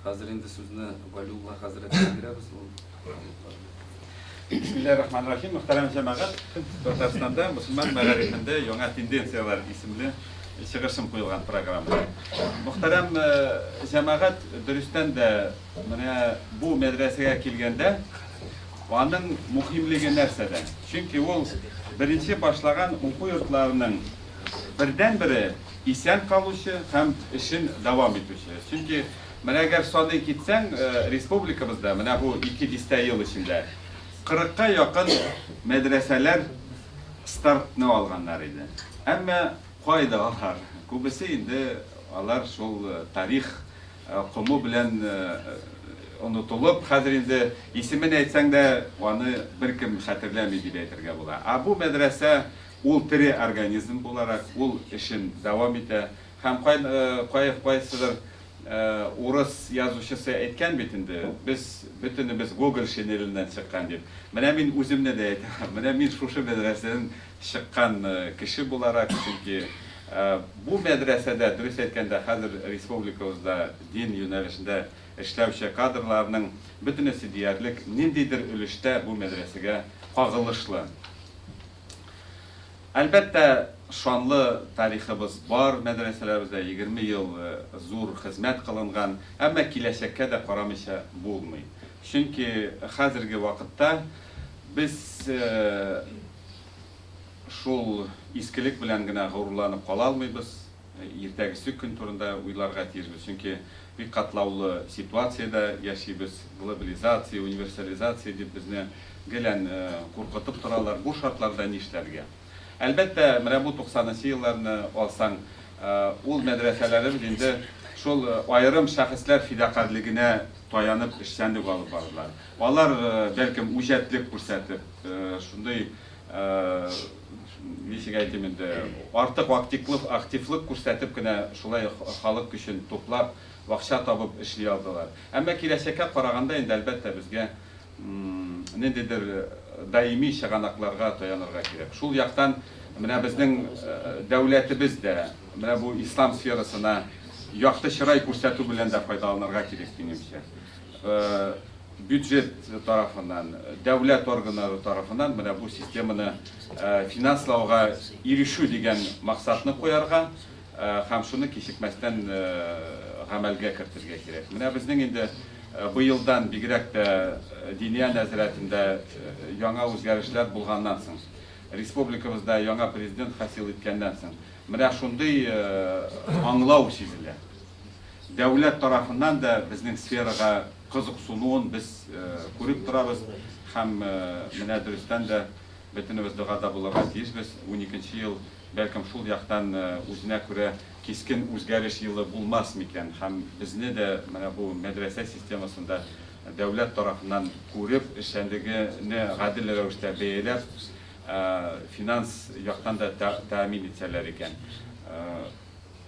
Хәзер инде сүзне Валиулла хәзрәткә бирәбез. Бисмиллаһи рахмани рахим. Мөхтәрәм җәмәгать, Татарстанда мөселман мәгарифендә яңа тенденцияләр исемле чыгышым куелган программа. Мөхтәрәм э, җәмәгать, дөрестән дә менә бу мәдрәсәгә килгәндә аның мөһимлеге нәрсәдә? Чөнки ул беренче башлаган уку йортларының Бердәнбере, исән калучы һәм эшен дәвам итүче. Чөнки менә әгәр саный китсәң, республикабызда менә бу ике дистә ел эчендә 40 ка якын мәдрәсәләр стартны алганнар иде. Әмма кайда алар? Күбесе инде алар шул тарих кому белән онытылып, хәзер инде исемен әйтсәң дә, аны беркем хәтерләми дип әйтергә була. Ә бу мәдрәсә Ул тере организм буларак ул эшен дәвам итә. Һәм кай кайсыдыр урыс язучысы әйткән бит инде, без бөтенебез Гоголь шинеленнән чыккан дип. Менә мин үземне дә әйтәм, менә мин шушы мәдрәсәдән чыккан кеше буларак, чөнки бу мәдрәсәдә, дөрес әйткәндә, хәзер республикабызда дин юнәлешендә эшләүче кадрларның бөтенесе диярлек ниндидер өлештә бу мәдрәсәгә кагылышлы. Әлбәттә, шанлы тарихыбыз бар, мәдрәсәләребездә егерме ел зур хезмәт кылынган, әмма киләчәккә дә карамыйча булмый. Чөнки хәзерге вакытта без шул искелек белән генә горурланып кала алмыйбыз. Иртәгесе көн турында уйларга тиешбез, чөнки бик катлаулы ситуациядә яшибез. Глобализация, универсализация дип безне гелән куркытып торалар. Бу шартларда нишләргә? Әлбәттә, менә бу туксанынчы елларны алсаң, ул мәдрәсәләребез инде шул аерым шәхесләр фидакарьлегенә таянып эшчәнлек алып бардылар. Алар, бәлкем, үҗәтлек күрсәтеп, шундый ничек әйтим инде, артык актиклык, активлык күрсәтеп кенә шулай халык көчен туплап, акча табып эшли алдылар. Әмма киләчәккә караганда инде, әлбәттә, безгә ниндидер даими чыганакларга таянырга кирәк. Шул яктан менә безнең дәүләтебез дә менә бу ислам сферасына якты чырай күрсәтү белән дә файдаланырга кирәк, минемчә. бюджет тарафыннан, дәүләт органнары тарафыннан менә бу системаны финанслауга ирешү дигән максатны куярга һәм шуны кичекмәстән гамәлгә кертергә кирәк. Менә безнең инде быелдан бигрәк тә диния нәзәрәтендә яңа үзгәрешләр булганнан соң, республикабызда яңа президент хасил иткәннән соң, менә шундый аңлау сизелә. дәүләт тарафыннан да безнең сферага кызыксынуын без күреп торабыз һәм менә дөрестән дә бөтенебез догада булырга тиешбез. Уникенче ел, бәлкем, шул яктан үзенә күрә кискен үзгәреш елы булмас микән һәм безне дә менә бу мәдрәсә системасында дәүләт тарафыннан күреп, эшчәнлегене гадел рәвештә бәяләп, финанс яктан да тәэмин итсәләр икән.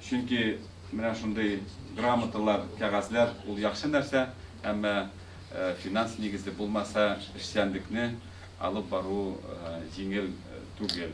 Чөнки менә шундый грамоталар, кәгазьләр ул яхшы нәрсә, әмма финанс нигезе булмаса, эшчәнлекне алып бару җиңел түгел.